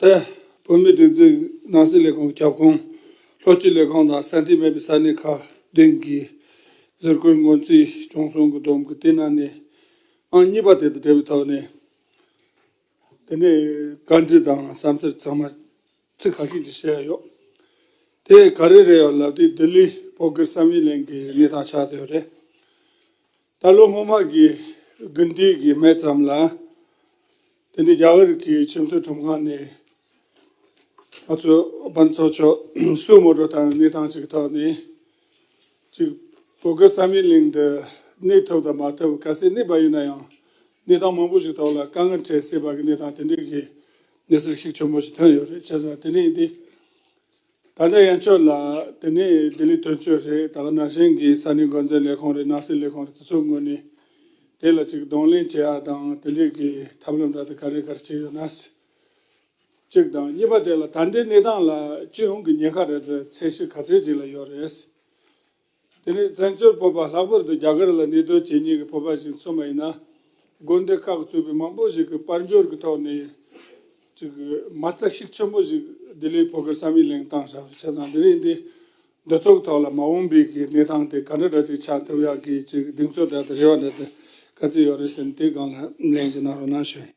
ཏེ། བོད་མིའི་སྒྲིག་འཛུགས་ནང་སྲིད་ལས་ཁུངས་ཀྱི་ཁྱབ་ཁོངས་ལྷོ་སྤྱི་ལས་ཁང་དང་ས་འཐུས་མེད་པའི་ས་གནས་ཁག་བདུན་གྱི་ཟུར་བཀོལ་སྔོན་རྩིས་བྱུང་སོང་གི་སྡོམ་གྱི་དེ་ནང་ནས་ཨང་གཉིས་པ་དེ་དང་འབྲེལ་བའི་ཐོག་ནས། དེ་ནས་བཀའ་འདྲི་དང་བསམ་འཆར་ཚང་མ་ཚིག་ཁ་ཤས་ཀྱིས་བཤད་ཡག་ཡོད། དེ་ག་རེ་རེད་ཡོད་ལབ་དུས་ལྡི་ལི་བོད་སྐད་བསམ་ཡིག་གླེང་གི་གནས་སྟངས་ཆགས་ཡོད་རེད། ད་ལོ་སྔོན་མ་གི་དགུན་དུས་ཀྱི་མེ་ཙམ་ལ་དེ་ནི་རྒྱ་གར་གྱི་ཆེས་མཐོའི་ཁྲོམ་ཁང་ནས་ང་ཚོ་དཔོན་ཚོགས་ཕྱོགས་སུ་ངོ་སྤྲོད་དང་གནས་སྟངས་ཅིག་ཐོག་ནས་ཅིག་བོད་ཀྱི་ས་མིང་གླིང་འདི་གནས་ཐུབ་དང་མ་ཐུབ་ག་སའི་གནས་པ་ཡིན་ན་ཡང་གནས་སྟངས་མང་པོ་ཞིག་ཐོག་ལ་དཀའ་ངལ་འཕྲད་སྲིད་པ་གི་གནས་སྟངས་དེ་འདྲའི་གི་གནས་ཚུལ་ཞིག་ཆེན་པོ་ཞིག་ཐོན་ཡོད་རེད་བྱས་ཙང་དེ་འདྲ་ཡིན་ཏེ། ད་ལྟའི་ཡན་ཆོད་ལ་དེ་ནི་ལྡི་ལི་དོན་གཅོད་རེད་ད་ནང་བཞིན་གྱི་ས་གནས་འགོ་འཛིན་ལས་ཁུངས་རེད་ནང་སྲིད་ལས་ཁུངས་རེད་དེ་ཚོའི་ངོས་ནས་དེ་ལ་ཅིག་གདོང་ལེན་བྱེད་ཨ་དང་དེ་འདྲས་ཀྱི་ཐབས་ལམ་འདྲ་དེ་ག་རེ་ག་རེ་བྱས་ཡོད་ན། ཅིག་དང་གཉིས་པ་དེ་ལ་ད་ལྟའི་གནས་སྟངས་ལ་སྤྱི་ཡོངས་ཀྱི་ཉེན་ཁ་རེད་པའི་ཚད་གཞི་ག་ཚད་ཅིག་ལ་ཡོད་རེད། དེ་རིང་བཙན་བྱོལ་བོད་པ་ལྷག་པར་དུ་རྒྱ་གར་ལ་གནས་སྡོད་བྱེད་ཉེས་ཀྱི་བོད་པ་ཞིག་མཚོན་པ་ཡིན་ན། དགོན་སྡེ་ཁག་གཙོས་པའི་མང་པོ་ཞིག་གིས་དཔལ་འབྱོར་གྱི་ཐོག་ནས་ཅིག་མ་རྩ་ཤིག་ཆེན་པོ་ཞིག་ལྡི་ལིའི་བོད་སྐད་བསམ་ཡིག་གླེང་སྟངས་ཞེས་པར་ཆ་ཚང་དེ་རིང་འདི་འདི་ཚོགས་ཐོག་ལ་མ་འོངས་པའི་གི་གནས་སྟངས་དེ་ག་འདྲ་འདྲ་ཅིག་ཆགས་ཐུབ་ཡག་གི་ཅིག་གདེང་ཚོད་འདྲ་དང་རེ་བ་འདྲ་དེ་ག་ཚོད་ཡོད་རེད་ཟེར་ནས་དེ་སྒང་ལ་གླེང་ཅིག་གནང་རོགས་གནང་ཞུ།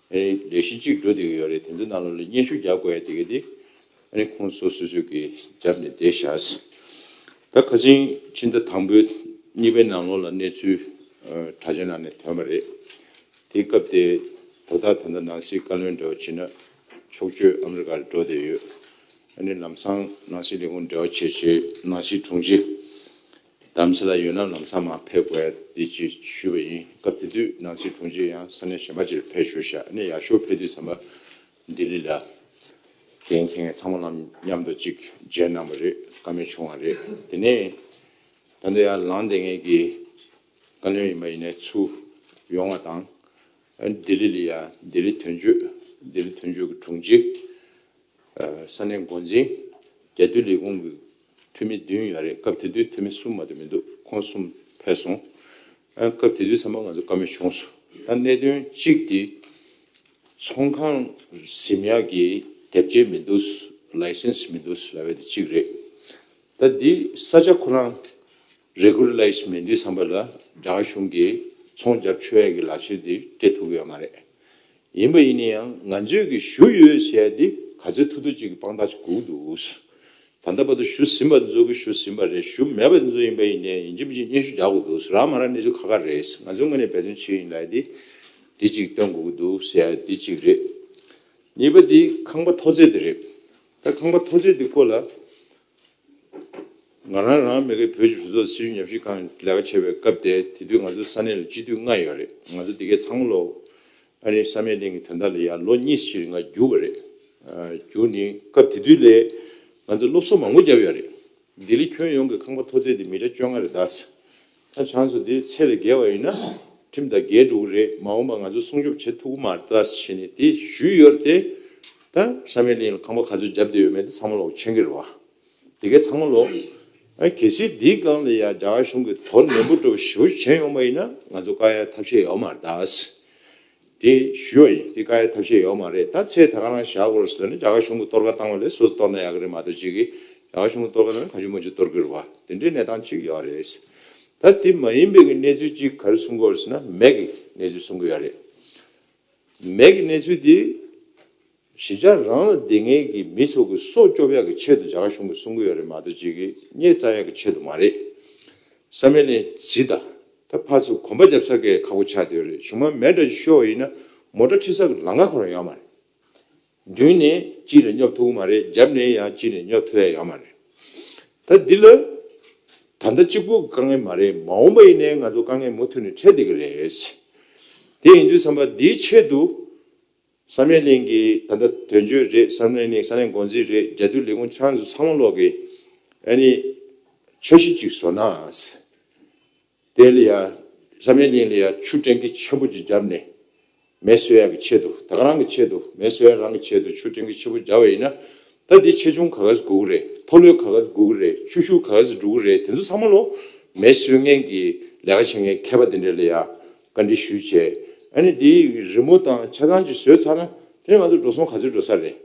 ཨེ། ལས་གཞི་གཅིག་འགྲོ་བསྡད་ཀྱི་ཡོད་རེད་དེ་ཚོའི་ནང་ལ་ལས་སྙན་ཞུ་རྒྱག་དགོས་ཡ་དེ་གི་དེ། ཨ་ནི་ཁོང་ཚོ་སོ་སོས་ཀྱི་རྒྱབ་ནས་བསྡད་བཞག། ད་ཁ་ཆེན་ཕྱི་ཟླ་དང་པོའི་གཉིས་པའི་ནང་ལོགས་ལ་གནས་ཚུལ་དྲ་ཆེན་ནང་ནས་ཐོན་པ་རེད། དེའི་སྐབས་དེ་དོ་བདག་ད་ལྟ་ནང་སྲིད་བཀའ་བློན་འདྲ་བ་བྱེད་ན་ཆོག་ཆོས་ཨ་མི་རི་ཀ་རུ་འགྲོ་བསྡད་ཡོད། ཨ་ནི་ལམ་སང་ནང་སྲིད་ལས་ཁུངས་འབྲེལ་བ་བྱེད་བྱེད་ནང་སྲིད་དྲུང་ཆེ། གདམ་གསེས་ལ་ཡོད་ན་ལམ་སང་མ་ཕེབས་དགོས་འདི་ཅེས་ཞུས་པ་ཡིན་སྐབས་དེ་དུས་ནང་སྲིད་དྲུང་ཆེ་ཡང་ས་གནས་གཞན་པ་ཅིར་ཕེབས་ཞུ་བཞག་ནས་ཡག་ཤོས་ཕེབས་དུས་ཚང་མ་ལྡི་ལི་ལ་གན་ཁེ་ངས་ཚང་མ་ལམ་མཉམ་དུ་གཅིག་མཇལ་གནང་བ་རེད་ཀ་མེད་བྱུང་བ་རེད་དེ་ནས་ད་འདི་ཡར་ལངས་འདེད་ངེས་ཀྱི་བཀའ་བློན་ཡིན་པ་ཡིན་ནས་ཚུ་ཡོང་བ་དང། ལྡི་ལི་ལ་ཡང་ལྡི་ལི་དོན་གཅོད་ལྡི་ལི་དོན་གཅོད་ཀྱི་དྲུང་ཆེ་ས་གནས་མགོ་འཛིན། རྒྱལ་སྟོད་ལས་ཁུངས་ཀྱི་འཐུས་མི་བདུན་ཡོད་རེད་སྐབས་དེ་དུས་འཐུས་མི་གསུམ་མ་གཏོགས་མི་འདུག་ཁོང་གསུམ་ཕེབས་སོང། སྐབས་དེ་དུས་ཚང་མ་ང་ཚོ་བཀའ་མོལ་བྱུང་སོང་ད་གནད་དོན་གཅིག་དེ་ཚོང་ཁང་གཟིམ་ཡག་གི་དེབ་སྐྱེལ་མི་འདུག License མི་འདུག་ཟེར་བ་དེ་གཅིག་རེད། ད་འདི་ས་ཆ་ཁོ་རང Regularize མེད་དུས་ཚང་མ་ལ་རྒྱ་གར་གཞུང་གི་ཚོང་རྒྱག་ཆོས་ཡག་གི་ལག་ཁྱེར་དེ་སྤྲད་ཐུབ་ཀྱི་ཡོད་མ་རེད། ཡིན་པ་ཡིན་ཡང་ང་ཚོས་ཀྱི་ཞུ་ཡོད་བྱས་ཏེ་ག་ཚོད་ཐུབ་ཐུབ་ཅིག་གི་དཔང་རྟགས་ཅིག་བསྒུགས་འདུག་ད་ལྟ་བར་དུ་ཞུ་ཟིན་པ་འདི་ཚོ་གི་ཞུ་ཟིན་པ་རེད་ཞུ་མེད་པ་འདི་ཚོ་ཡིན་པ་ཡིན་ནའི་ཡིན་ཅི་མི་ཅི་སྙན་ཞུ་རྒྱག་དགོས་འདུག་རག་མ་རག་གནས་ཚུལ་ཁ་ཁ་རེད་ང་ཚོས་དངོས་གནས་འབད་བརྩོན་བྱེད་ཡིན་ལབ་སྟེ་དེ་ཅིག་སྟོན་དགོས་ཀྱི་འདུག་ཟེར་ཡ་དེ་ཅིག་རེད། གཉིས་པ་དེ་ཁང་པ་མཐོ་ཚད་དེ་རེད། ད་ཁང་པ་མཐོ་ཚད་དེ་སྐོར་ལ། ང་རང་རང་མི་གི་བོད་ཀྱི་གྲོས་ཚོགས་སྲིད་གཞུང་ཉམས་ཞིབ་ཁང་ལས་ཀ་བྱེད་པའི་སྐབས་དེ་དེ་དུས་ང་ཚོ་ས་གནས་ལ་སྤྱི་འཐུས་ལྔ་ཡོད་རེད་ང་ཚོ་འདི་གའི་ཚང་མ་ལོ་ཨ་རིའི་ས་མེག་གླིང་གི་དོན་དག་ལ་ཡར་ལོ་གཉིས་ཕྱིར་ང་རྒྱུགས་པ་རེད། རྒྱུགས་ནི་སྐབས་དེ་དུས་ལས་ང་ཚོ་སློབ་གསོ་མང་པོ་བརྒྱབ་ཡོད་རེད། ལྡི་ལི་ཁྱོན་ཡོངས་ཀྱི་ཁང་པ་མཐོ་ཚད་དེ་མི་ཀྲ་བཅོ་ལྔ་རེད་གདའ། ད་བྱང་སོ་དེའི་ཚད་ལས་བརྒལ་བ་ཡིན་ན་ཁྲིམས་དང་འགལ་འགྲོ་གི་རེད་མ་འོངས་པ་ང་ཚོ་སྲུང་སྐྱོབ་བྱེད་ཐུབ་ཀྱི་མ་རེད་ད་བྱས་ནས་དེ་ཞུས་ཡོད་རེད་དེ། ད་ས་མེད་གླིང་ལ་ཁང་པ་ག་ཚོད་བརྒྱབ་བསྡད་ཡོད་མེད་དེ་ཚང་མ་ལོག་ཆེན་གྱི་རེད་བ། དེ་གས་ཚང་མ་ལོག། གལ་སྲིད་འདིའི་སྒང་ལ་ཡང་རྒྱ་གར་གཞུང་གིས་དོར་ནན་པོ་སྤྲོ་བ་ཞིབ་བོ་བྱས་ཡོང་བ་ཡིན་ན་ང་ཚོ་དཀའ་ཡག་ཐབས་ཤེས་ཡོད་མ་རེད་ད། དེ་ཞུས་བ་ཡིན་དེ་ཀ་ཡ་ཐབས་ཤེས་ཡོག་མ་རེད་ད་ཚེ་ད་ག་ནང་བཞག་དགོས་རེད་ཟེར་ན་རྒྱ་གར་གཞུང་གི་གཏོར་ཀ་བཏང་བ་ལས་སོ་སོ་གཏོར་ན་ཡག་གི་རེད་མ་གཏོགས་ཅིག་གིས་རྒྱ་གར་གཞུང་གི་གཏོར་ཀ་ནང་ག་ཅུང་མ་ཅུང་གཏོར་གི་རེད་བ་དེ་འདྲའི་གནས་སྟངས་ཅིག་ཡོག་རེད། ད་དེ་མ་ཡིན་པའི་གི་གནས་ཚུལ་ཅིག་ག་རེ་གསུང་དགོས་རེད་ཟེར་ན་མེད་གི་གནས་ཚུལ་གསུང་གི་ཡོག་རེད། མེད་གི་གནས་ཚུལ་དེ། གཞི་ཆགས་རང་ལ་བདེ་ངེས་ཀྱི་མི་ཚོགས་ཀྱི་སྲོག་སྐྱོབ་ཡག་གི་ཆེད་དུ་བྱ་དགའ་གཞུང་གི་གསུང་གི་ཡོད་རེད་མ་གཏོགས་ཅིག་གི་རྙེད་རྩ་ཡག་གི་ཆེད་དུ་མ་རེད། བསམ་མེད་ནས་ཇི་ད་ད་ཕར་ཚུར་གོམ་པ་རྒྱབ་ཚར་གས་ཁག་པོ་ཆགས་བསྡད་ཡོད་རེད་གཞུང་མ་མེད་འདྲ་ཅིག་ཤོག་ཡིན་ན་མོ་ཏྲ་ཁྲི་ས་གི་ལང་ཀ་ཁོ་རང་ཡོད་མ་རེད། མདུན་ནས་ཅིག་ལ་སྙོབ་ཐུབ་གི་མ་རེད་རྒྱབ་ནས་ཡང་ཅིག་ནས་སྙོབ་ཐུབ་ཡ་ཡོད་མ་རེད། ད་འདི་ལ་ད་ལྟ་གཅིག་པུ་དཀའ་ངལ་མ་རེད་མ་འོངས་པ་ཡིན་ནའི་ང་ཚོ་དཀའ་ངལ་མུ་མཐུད་ནས་འཕྲད་བསྡད་ཀྱི་རེད། དེ་ཡིན་དུས་བསམ་པ་འདིའི་ཆེད་དུ། བསམ་ཡས་གླིང་གི་ད་ལྟ་དོན་གཅོད་རེད་བསམ་ཡས་གླིང་ས་གནས་འགོ་འཛིན་རེད་རྒྱལ་དུས་ལས་ཁུངས་ཆང་ཟོ་ཚང་མ་ལོག་གི་ཨ་ནི་འཆར་གཞི་གཅིག་བཟོ་ནའང་དེ་ལ་ཡང་བསམ་ཡས་གླིང་ལ་ཡང་ཆུ་སྤྲེང་ཁི་ཆེན་པོ་གཅིག་བརྒྱབ་ནས་མེ་གསོད་ཡག་གི་ཆེད་དུ་ད་ག་རང་གི་ཆེད་དུ་མེ་གསོད་ཡག་རང་གི་ཆེད་དུ་ཆུ་སྤྲེང་ཁི་ཆེན་པོ་བརྒྱབ་བ་ཡིན་ན་ད་འདི་ཆེ་ཆུང་ག་ག་ཟིག་གོ་གི་རེད་མཐོ་ལོས་ག་ག་ཟིག་གོ་གི་རེད་ཆུ་ཤུགས་ག་ག་ཟིག་འགྲོ་གི་རེད་དེ་ཚོ་ཚང་མ་ལོག་མེ་གསོད་མཁན་གྱི་ལས་ཀ་བྱེད་མཁན་མཁས་པ་དེ་འདྲ་ལ་ཡང་བཀའ་འདྲི་ཞུས་བྱས། ཨ་ནི་དེ་རི་མོ་དང་ཆ་ཚང་གཅིག་བཟོས་ཚར་ན་དེ་ནི་ང་ཚོ་འགྲོ་སོང་ག་ཚོད་འགྲོ་ས་རེད།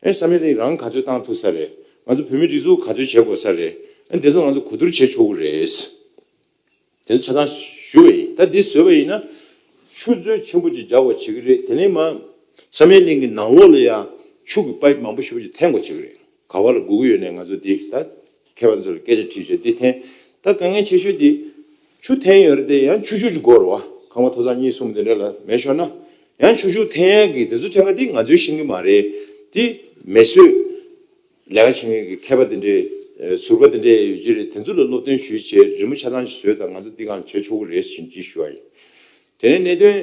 ཨ་ནི་ས་མིག་རིང་རང་ག་ཚོད་བཏང་ཐུབ་ས་རེད། ང་ཚོ་བོད་མི་སྒྲིག་འཛུགས་ག་ཚོད་བྱེད་དགོས་ས་རེད། ཨ་ནི་དེ་ཚོ་ང་ཚོ་གོ་བསྡུར་བྱེད་ཆོག་གི་རེད། དེ་ཚོ་ཆ་ཚང་ཞུ་བ་ཡིན། ད་འདི་བཟོས་པ་ཡིན་ན། ཆུ་མཛོད་ཆེན་པོ་ཅིག་རྒྱག་པར་བྱེད་ཀྱི་རེད་དེ་ནས་མ། ས་མིག་རིང་གི་ནང་ལོགས་ལ་ཡང་ཕྱུགས་ཀྱི་པ་མང་པོ་ཞིག་པ་ཅིག་འཐེན་དགོས་བྱེད་ཀྱི་རེད། ག་བ་ལ་སྒུག་གི་ཡོད་ནས་ང་ཚོ་འདི་ད་མཁས་པ་ཚོ་ལ་སྐད་ཆ་དྲིས་ཤིག་འདི་འཐེན་ད་དཀའ་ངལ་ཆེ་ཤོས་འདི་ཆུ་འཐེན་ཡོད་རེད་དེ་ཡང་ཆུ་ཤུགས་ཀྱི་སྒོ་རུ་བ་ཁང་པ་ཐོག་ཚང་གཉིས་གསུམ་དེ་འདྲ་ལ་མེད་ཤོར་ན་ཡང་ཆུ་ཤུགས་འཐེན་ཡག་གི་དེ་ཚོ་ཕྲད་ཀ་འདི་ང་ཚོའི་བཞིན་གྱི་མ་རེད་དེ་མེ་གསོད་ལས་ཀ་བྱེད་མཁན་གྱི་མཁས་པ་དེ་འདྲའི་ཟུར་པ་དེ་འདྲའི་ཡོད་ཀྱི་རེད་དེ་ཚོ་ལ་སློབ་སྟོན་ཞུས་བྱས་རི་མོ་ཆ་ཚང་ཞིག་བཟོས་ད་ང་ཚོ་འདི་གང་བྱས་ཆོག་གི་རེད་བཞིན་གྱིས་ཞུ་བ་ཡིན། དེ་ནས་གནད་དོན་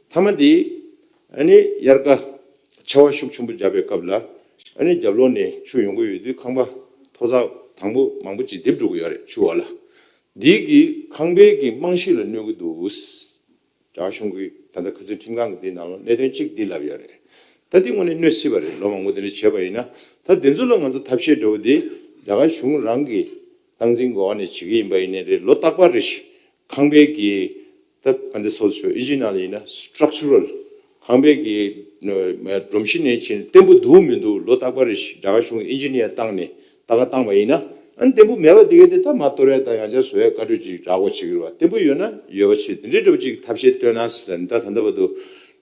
མཐའ་མ་འདི། དབྱར་ཀ་ཆར་བ་ཤུགས་ཆེན་པོ་འཇབ་པའི་སྐབས་ལ། རྒྱབ་ལོགས་ནས་ཆུ་ཡོང་གི་ཡོད་དུས་ཁང་པ་མཐོ་ས་དང་པོ་མང་པོ་ཅིག་རྡིབ་འགྲོ་གི་ཡོད་རེད་ཆུ་བ་ལ། འདི་གིས་ཁང་པའི་གི་རྨང་གཞི་ལ་གནོད་ཀྱི་འདུག་གྲྭ་གཞུང་གི་ད་ལྟ་ཁ་ཚུན་ཁྲིམས་ཁང་གི་དེའི་ནང་ལ་གནད་དོན་གཅིག་འདི་ལབ་ཡོད་རེད། ད་འདི་དངོས་ནས་གནོད་སྲིད་པ་རེད་ལོ་མང་པོ་དེ་འདྲ་བྱས་པ་ཡིན་ན། ད་འདི་ཚོ་ལ་ང་ཚོ་ཐབས་ཤེས་འདྲ་བོ་འདི་རྒྱ་གར་གཞུང་རང་གིས། སྟངས་འཛིན་དགོས་བ་ནི་ཇི་གི་ཡིན་པ་ཡིན་ནི་རེད་ལོ་རྟག་པར་རེད་ཤི། ཁང་པའི་གི། ད་ག་འདི་སོ་སོའི Original ཡིན་ན Structural། ཁང་པའི་གི། སྒྲོམ་གཞི་ནི་ཇི་བརྟན་པོ་འདུག་མི་འདུག་ལོ་རྟག་པར་རེད་ཤི་དགྲ་གཞུང Engineer བཏང་ནི་ད་ག་བཏང་བ་ཡིན་ན། ཨ་འདི་པོ་མེད་པ་དེ་ག་དེ་ད་མ་གཏོར་ཡ་ད་ཡང་བྱ་བཟོ་ཡ་བཀའ་གྲོས་ཅིག་བསྒྲག་གོ་ཇི་གིར་བ་བརྟན་པོ་ཡོད་ན་ཡོད་པ་ཆེ་དེ་འདྲའི་འདྲ་པོ་ཅིག་ཐབས་ཤེས་བཏོན་ན་ཟེར་ད་ད་འདི་བ་དུ།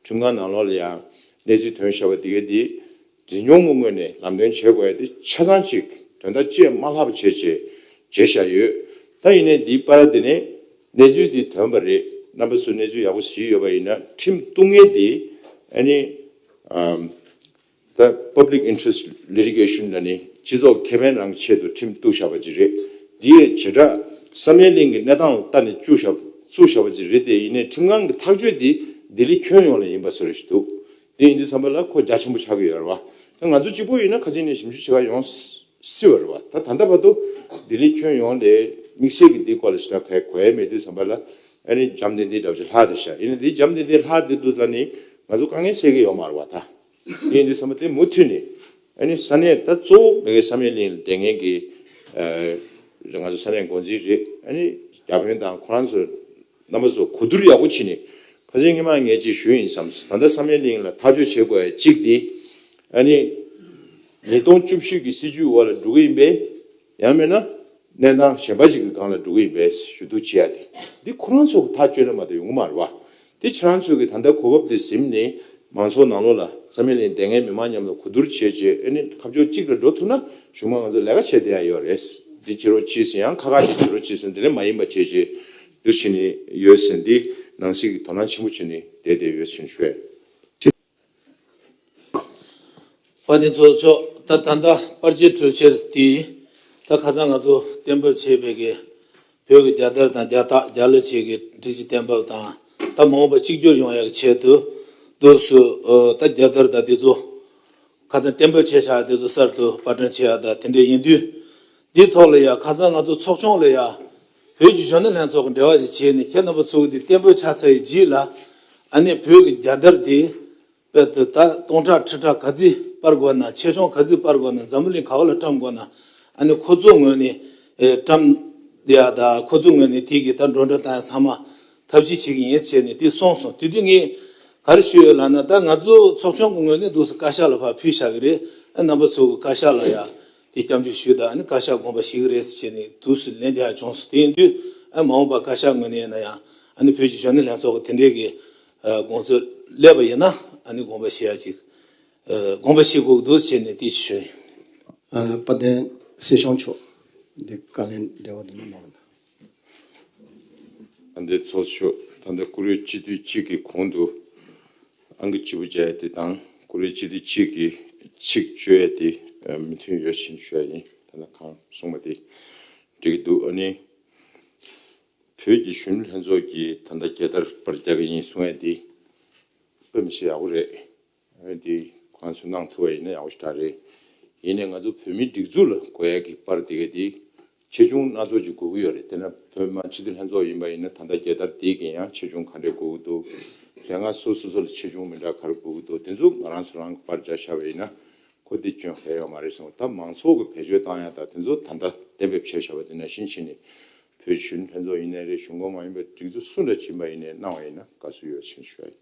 ཁྲིམས་ཁང་ནང་ལོག་ལ་ཡང་གནས་ཚུལ་དོན་བཤད་བ་དེ་ག་དེ། འཛིན་སྐྱོང་གི་ངོས་ནས་ལམ་སྟོན་བྱེད་དགོས་ཡ་དེ་ཆ་ཚང་གཅིག་དོན་དག་བཅས་མ་ལྷག་པ་བྱས་རྗེས་བརྗེད་བཞག་ཡོད་ད་ཡིན་ནའི་འདིའི་པ་ར་དེ་ནས་གནས་ཚུལ་འདི་དོན་པ་རེད་རྣམ་པ་སུ་གནས་ཚུལ་ཡག་པོ་ཟིག་ཡོད་པ་ཡིན་ན་ཁྲིམས་གཏུག་ངན་དེ་ཨ་ནི་ད Public Interest Litigation ལ་ནི་སྤྱི་ཚོགས་ཁེ་ཕན་རང་གི་ཆེད་དུ་ཁྲིམས་གཏུག་བཞག་པ་ཅིག་རེད་འདི་ཡའི་བྱེ་བྲག་བསམ་ཡས་གླིང་གི་གནས་སྟངས་ལ་བལྟ་ནས་བཅུག་བཞག་བཙུགས་བཞག་པ་ཅིག་རེད་དེ་ཡིན་ནའི་ཁྲིམས་ཁང་གི་ཐག་གཅོད་དེ་ལྡི་ལི་ཁྱོན་ཡོངས་ལ་ཡིན་པ་བཟོ་རེ་ཞིག་འདུག་དེ་ཡིན་དུས་བསམ་པ་ལ་ཁོ་རྒྱ་ཆེན་པོ་ཆགས་ཀྱི་ཡོད་རེད་བ། ད་ང་ཚོ་གཅིག་པོ་ཡིན་ན་ཁ་ཆེ་ནས་ཞིབ་འཇུག་བྱེད་ཁ་ཡོང་སྲིད་བ་རེད་བ། ད་ད་ལྟ་བར་དུ་ལྡི་ལི་ཁྱོན་ཡོངས་ལས་དམིགས་བསལ་གྱི་འདིའི་སྐོར་ལ་ཞིབ་ཕྲ་ག་གོའི་མེད་དུས་བསམ་པ་ལ་ཨ་རིའི་འཇམ་ལྡན་ལྡན་འདྲ་བོ་ཞིག་ལྷག་དེ་ཤར་ཡིན་ན་དེའི་འཇམ་ལྡན་ལྡན་ལྷག་དེ་འདུག་ཙང་ནི་ང་ཚོ་དཀའ་ངལ་སེལ་གི་ཡོད་མ་རེད་བ། ད་དེ་ཡིན་དུས་བསམ་པ་དེ་མུ་མཐུད་ནས་ཨ་ནི་ས་གནས་ད་གཙོ་བོ་མེ་གའི་ས་མེད་གླིང་ལ་དེ་ངན་གི་ང་ཚོ་ས་གནས་འགོ་འཛིན་རེད་ཨ་ནི་རྒྱ་དཔོན་དང་ཁོ་རང་ཚོ་རྣམ་པ་ཚོ་གོ་བསྡུར་ཡག་པོ་བྱེད་ནས་ཁ་ཆེ་ངེད་མང་ངེད་ཅེས་ཞུ་ཡིན་བསམས་སོང་ད་ལྟ་ས་མའི་གླིང་ལ་ཐག་གཅོད་བྱེད་དགོས་ཡ་གཅིག་དེ་ཨ་ནི་ཉིས་སྟོང་བཅུ་བཞི་གི་སྲིད་ཇུས་འོག་ལ་འགྲོ་གི་ཡིན་པས་ཡང་མེད་ན་གནས་སྟངས་གཞན་པ་ཞིག་གི་སྒང་ལ་འགྲོ་གི་ཡིན་པས་ཞུ་གཏུག་བྱེད་ཡ་དེ་འདི་ཁོ་རང་ཚོ་གི་ཐག་གཅོད་ལས་མ་གཏོགས་ཡོང་གི་མ་རེད་བ་དེ་ཁྱེད་རང་ཚོས་གི་ད་ལྟ་གོ་བབ་དེ་གཟིམས་ནས་མང་ཚོགས་ནང་ལོག་ལ་ས་མའི་གླིང་དེ་སྔའི་མི་མང་མཉམ་ལ་གོ་བསྡུར་བྱས་རྗེས་ཨ་ནི་ཁ་ཕྱོགས་གཅིག་ལ་འགྲོ་ཐུབ་ན་གཞུང་མང་ང་ཚོ་ལས་ཀ་བྱེད་བསྡད་ཡ་ཡོད་རེད་འདི་བྱེད་རོགས་གྱིས་སུ་ཡང་ཁ་ཁ་ཞིག་བྱེད་རོགས་གྱིས་སུ་འདི་ནས་མ་ཡིན་པ་བྱས་རྗེས་འདུ་བྱེད་ནི་ཡོད་ཟེར་འདི་ནང་གསེས་ཀྱི་དོ་སྣང་ཆེན་པོ་བྱེད་ནི་དེ་དེ་ཡོད་ཟེར་ཤོད། བ་དེ་ཚོ་ཆོག་ད་ད་ལྟ་པར་རྗེས་གྲོལ་ཆེར་དེ་ད་ཁ་ཚང་ང་ཚོ་གཏན་འབེབས་བྱས་པའི་གི་བོད་གི་རྒྱ་དར་དང་རྒྱ་རྟགས་རྒྱ་ལོ་བྱས་གི་སྒྲིག་གཞི་གཏན་འབེབས་དང་ད་མ་འོངས་པ་གཅིག་གྱུར་ཡོང་ཡག་གི་ཆེད་དུ་དུ་སུ་ད་རྒྱ་དར་དང་དེ་ཚོ་ཁ་ཚང་གཏན་འབེབས་བྱས་ཤག་དེ་ཚོ་གསར་དུ་པར་སྐྲུན་བྱས་ཡག་ད་དེ་འདྲས་ཡིན་དུས་འདི་ཐོག་ལ་ཡག་ཁ་ཚང་ང་ཚོ་ཚོགས་ཆུང་ལ་ཡག་བོད་ཀྱི་གཞོན་ནུ་ལྷན་ཚོགས་ཀྱི་འབྲེལ་བ་ཞིག་བྱས་ནས་ཁྱེད་རྣམ་པ་ཚོ་འདི་བརྟན་པོའི་ཆགས་ཚར་ཡི་རྗེས་ལ་ཨ་ནེ་བོད་ཀྱི་རྒྱལ་དར་དེ་དཔལ་དུ་ད་སྟོང་ཁྲག་ཁྲི་ཁྲག་ག་རྫི་སྤར་དགོས་ན་ཆེ་ཆུང་ག་རྫི་སྤར་དགོས་ན་འཛམ་བུ་གླིང་ག་བ་ལ་བཀྲམ་དགོས་ན་ཨ་ནེ་ཁོ་ཚོའི་ངོས་ནས་བཀྲམ། དེ་ཡང་ད་ཁོ་ཚོའི་ངོས་ནས་དེ་གི་ད་འགྲོ་འགྲོ་དང་ཡང་ཚང་མ་ཐབས་ཤེས་བྱེད་གི་ཡིན་ཟེར་ནས་དེ་སོང་སོང་དུས་དུས་ངས་ག་རེ་ཞུས་ཡོད་ལགས་ན་ད་ང་ཚོ་ཚོགས་ཆུང་གི་ངོས་ནས་འདུག་སེ་བཀའ་ཤག་ལ་ཕར་ཕུལ་བཞག་གི་རེད་ཨ་རྣམ་པ་ཚོ་གི་བཀའ་ཤག་ལ་ཡང་དེ་སྐྱབས་འཇུག་ཞུས་དང་བཀའ་ཤག་དགོངས་པ་ཞིག་རེད་ཟེར་ནས་དུས་སུ་ལན་རྒྱག་བྱུང་སོང་དེ་ཡིན་དུས་མ་འོངས་པར་བཀའ་ཤག་ངོས་ནས་ན་ཡང་བོད་ཀྱི་གཞོན་ནུ་ལྷན་ཚོགས་ཀྱི་དེ་འབྲེལ་གྱི་དགོངས་ཚུལ་སླེབས་པ་ཡིན་ན་དགོངས་པ་ཞུ་ཡ་ཅིག་དགོངས་པ་ཞུས་དགོས་འདུག་ཅེས་ནས་དེ་ཞུས་ཡོད། དཔལ་ལྡན་སྲིད་སྐྱོང་མཆོག་འདི་བཀའ་ལན་འདྲི་བ་དུ་མ་གནང། ཨ་མདའི་ཚོགས་མཆོག་ད་ལྟ་ཀུ་རེ་སྤྱི་འཐུས་གཅིག་གི་གོང་དུ་ཨང་ཀི་གཅིག་པུ་བརྒྱ་ཡས་དེ་དང་ཀུ་རེ་སྤྱི་འཐུས་གཅིག་གི་ཚིག་བཅོ་ཡས་དེ་མི་མཐུན་ཡོད་ཕྱིན་ཤོད་ཡིན་ད་ལྟ་གང་གསུངས་པ་དེ་འགྲིག་གི་འདུག་ཨ་ནི། བོད་ཀྱི་གཞོན་ནུ་ལྷན་ཚོགས་ཀྱིས་ད་ལྟ་རྒྱལ་དར་པར་རྒྱག་གི་ཡིན་གསུངས་ཡས་དེ་དཔེ་མི་བྱེད་ཡག་པོ་རེད། འོན་ཏེ་ཁོང་ཚོས་གནང་ཐུབ་པ་ཡིན་ན་ཡག་པོ་ཞིག་འདྲ་རེད། ཡིན་ནའི་ང་ཚོ་བོད་མིའི་སྒྲིག་འཛུགས་ལ་གོ་ཡ་གི་པར་དེ་ག་དེ་ཆེ་ཆུང་སྣ་ཚོགས་ཀྱི་དགོས་ཀྱི་ཡོད་རེད་དེ་ན་བོད་དམངས་སྤྱི་འཐུས་ལྷན་ཚོགས་ཡིན་པ་ཡིན་ན་ད་ལྟ་རྒྱལ་དར་དེ་གིས་ཡང་ཆེ་ཆུང་ག་འདྲའི་དགོས་ཀྱི་འདུག་དེ་སྔ་སོ་སོ་སོ་ལ་ཆེ་ཆུང་མི་འདྲ་ག་རེ་དགོས་ཀྱི་འདུག་དེ་ཚོ་ང་རང་ཚོ་རང་གི་པར་རྒྱག་ཤར་བ་ཡིན་ན་ཁོ་དེ་སྐྱོན་ག་ཡོད་མ་རེད་བསམ་ད་མང་ཚོགས་ཀྱི་བེད་སྤྱོད་བཏང་ཡ་ད་དེ་ཚོ་ད་ལྟ་གཏན་འབེབས་བྱས་ཤར་བ་དེ་ན་ཕྱིན་ཆད་ནས་བོད་སྤྱི་འཐུས་ལྷན་ཚོགས་ཡིན་ནའི་རེད་གཞུང་ཁོངས་མ་ཡིན་པའི་སྒྲིག་འཛུགས་སུ་འདྲ་བྱིན་པ་ཡིན་ནའི་གནང་བ་ཡིན་ན་དགའ་བསུ་ཡོད་ཕྱིན་ཞུ་བ་ཡིན།